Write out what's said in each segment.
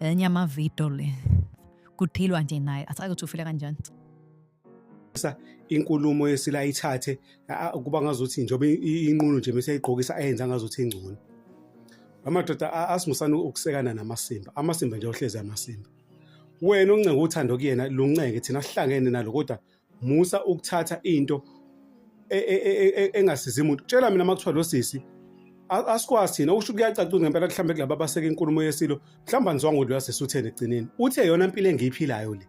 enye amavidiyo le kuthilwa nje naye asazi ukuthi ufile kanjani sa inkulumo yesila ithathe kuba ngazuthi njengoba inqunu nje bese igqokisa ayenza ngazuthi ingcono amadoda asimusana ukusekana namasimba amasimba nje ohlezi amasimba wena uncenga uthando kuyena luncenga thina sihlangene nalo kodwa musa ukuthatha into e, e, e, engasizi muntu tshela mina makuthiwa lo sisi asikwazi thina usho kuyacaca ngempela mhlawumbe kulaba abaseke inkulumo yesilo mhlawumbe anizwanga ukuthi uyasisi utheni egcineni uthi eyona mpilo engiyiphilayo le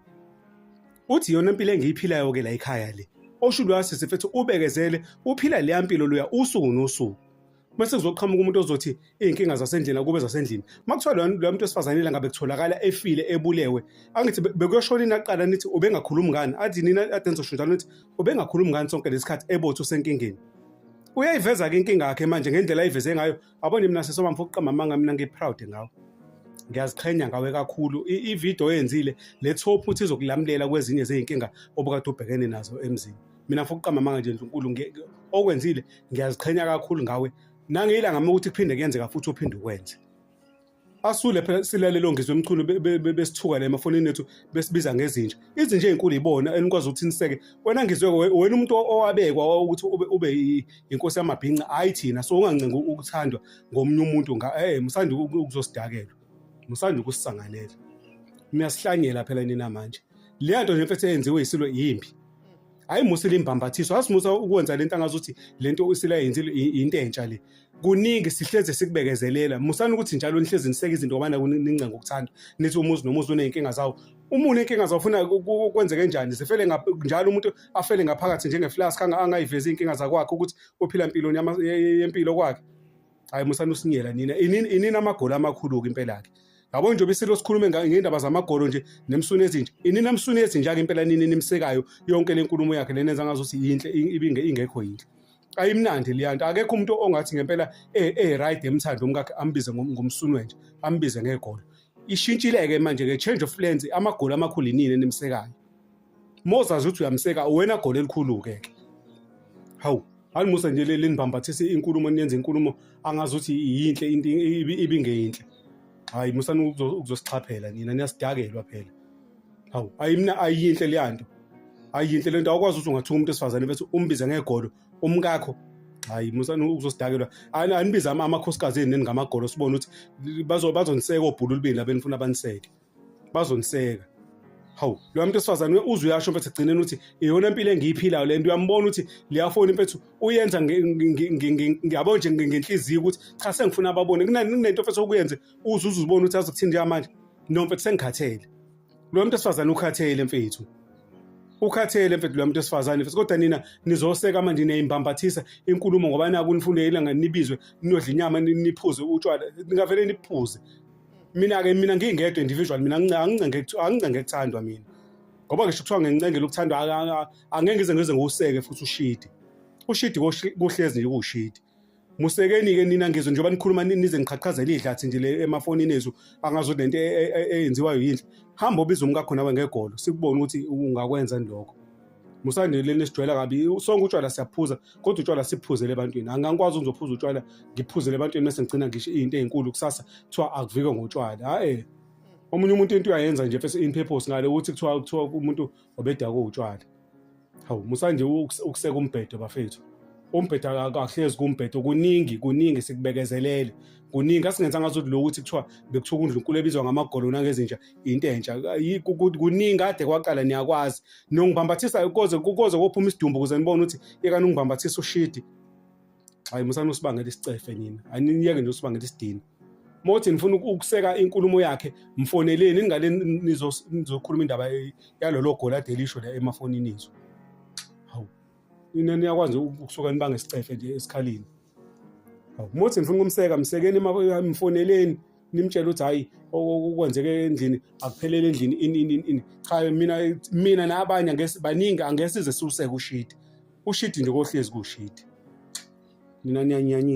uthi iyona mpilo engiyiphilayo ke la ekhaya le osho luyasisi mfethu ubekezele uphila leya mpilo luya usuku nosuku bese kuzoqhamuka umuntu ozothi iy'nkinga zasendlini akube zasendlini uma kuthiwa loya muntu wesifazane ila ngabe kutholakala efile ebulewe angithi bekuyoshona ini aqala nithi ubengakhulumi ngani athi nina ade nizosho njalo nithi ubengakhulumi ngani sonke lesi khathi ebothi usenkingeni uyayiveza-ke inkinga yakhe manje ngendlela ayiveze ngayo abone mina sesoma mfo ukuqamba amanga mina ngiproud ngawo ngiyaziqhenya ngawe kakhulu ividiyo oyenzile le thophu uthi izokulamulela kwezinye zey'nkinga obukade ubhekene nazo emzini mina futhi uqamba amanga nje Nkulunkulu nge- nge- okwenzile ngiyaziqhenya kakhulu ngawe nangiyilanga uma ukuthi kuphinde kuyenzeka futhi uphinde ukwenze asule phela silale lo ngizwe emchunu be- be- be- besithuka la emafonini ethu besibiza ngezinja izinja ezinkulu yibona enikwazi ukuthi niseke wena ngizwe we- wena umuntu o- owabekwa wa- ukuthi ube, ube i- inkosi yamabhinca hayi thina so ungancenga u- ukuthandwa ngomunye umuntu nga eh musanda uku- uku- ukuzosidakelwa musanda ukusisanganela niyasihlanyela phela nina manje leya nto nje mfethu eyenziwe yisilo yimbi hayi musa limbhambathiso asimusa ukwenza lento angazuthi lento isilayenzile into entsha le kuningi sihleze sikubekezelela musani ukuthi njalo nihlezi niseke izinto ngobana nincenga ukuthanda nithi umuzi nomuzi uneyinkinga zawo uma unenkinga zawo funa kwenzeke kanjani zifele njalo umuntu afele ngaphakathi njengeflask angayivezi iy'nkinga zakwakhe ukuthi uphila mpiloni yempilo kwakhe hayi musani usinyela nina inini amagoli amakhulu-ke impela-ke yabo nje obisilo sikhulume ngendaba zamagolo nje nemsuni ezinje inini emsuni ezinjake impela nini nimsekayo yonke le nkulumo yakhe lena enza ngazuthi yinhle ibinge ingekho yinhle ayimnandi leya nto akekho umuntu ongathi ngempela e-right emthando umkakhe ambize ngomsuni wenje ambize ngegolo ishintshile-ke manje-ke change of plans amagoli amakhulu inini enimsekayo mozazi ukuthi uyamseka uwena goli elikhulu-ke ke hawu alimusa nje leli nibhambathise inkulumo niyenza inkulumo angazi ukuthi yinhle into ibingeyinhle hayi musani ukuzosixhaphela nina niyasidakelwa phela hawu ayimna ayinhle leya nto ayinhle le nto awukwazi ukuthi ungathuka umuntu esifazane bese umbize ngegolo umkakho hayi musani ukuzosidakelwa anibize amakhosikazi eni ngamagolo sibone ukuthi bazoniseka obhululubini labenifuna baniseke bazoniseka hawu lo muntu esifazane we uzwe uyasho mfethu egcineni ukuthi iyona impilo engiyiphilayo le nto uyambona ukuthi liyafoni mfethu uyenza ngiyabo nje ngenhliziyo ukuthi cha sengifuna ababone kunento mfethu okuyenze uze uze uzibone ukuthi azokuthini njengamanje no mfethu sengikhathele lo muntu esifazane ukhathele mfethu ukhathele mfethu lo muntu esifazane mfethu kodwa nina nizoseka manje niyayimbambathisa inkulumo ngoba naku nifundela nganibizwe ninodla inyama niphuze utshwala ningavele niphuze mina ke mina ngingedwa individual mina angincenge angincenge kuthandwa mina ngoba ngisho kuthiwa ngincengela ukuthandwa angeke ngize ngize ngiwuseke futhi ushidi ushidi kuhlezi nje kuwushidi musekeni ke nina ngizwe njengoba nikhuluma nize niqhaqhazela idlathi nje le emafonini ezu angazo lento e, e, e, eyenziwayo yinhle hamba ubiza umkakho nawe ngegolo sikubone ukuthi ungakwenza lokho musandile nisijwayela kabi sonke utshwala siyaphuza kodwa utshwala siphuzele ebantwini angangikwazi ukuzophuza utshwala ngiphuzele ebantwini mese ngigcina ngisho into ezinkulu kusasa kuthiwa akuvikwe ngotshwala hayi omunye umuntu into uyayenza nje first in purpose ngale ukuthi kuthiwa kuthiwa umuntu obedakwe utshwala hawu musanje ukuseka umbhedo bafethu umbhedo akahlezi kumbhedo kuningi kuningi sikubekezelele kuningi asingenzanga ukuthi lo ukuthi kuthiwa bekuthiwa uNdlunkulu ebizwa ngamagolo nangezinja into entsha kuningi kade kwaqala niyakwazi niyongibhambathisa koze koze kophuma isidumbu ukuze nibone ukuthi yekani ungibhambathisa ushidi hayi musani usibangela isicefe nina aniyeke nje usibangela isidini uma uthi nifuna ukuseka inkulumo yakhe mfoneleni ningale nizokhuluma indaba yalolo goli ade lisho la emafonini ethu nina niyakwazi ukusuka nibange isicefe nje esikhalini umuthi ngifuna ukumseka msekeni mfoneleni nimtshela ukuthi hayi okwenzeke endlini akuphelele endlini ini ini ini cha mina mina nabanye angesi baningi angesize siwuseke ushidi ushidi nje kohlezi kushidi mina niyanyanyisa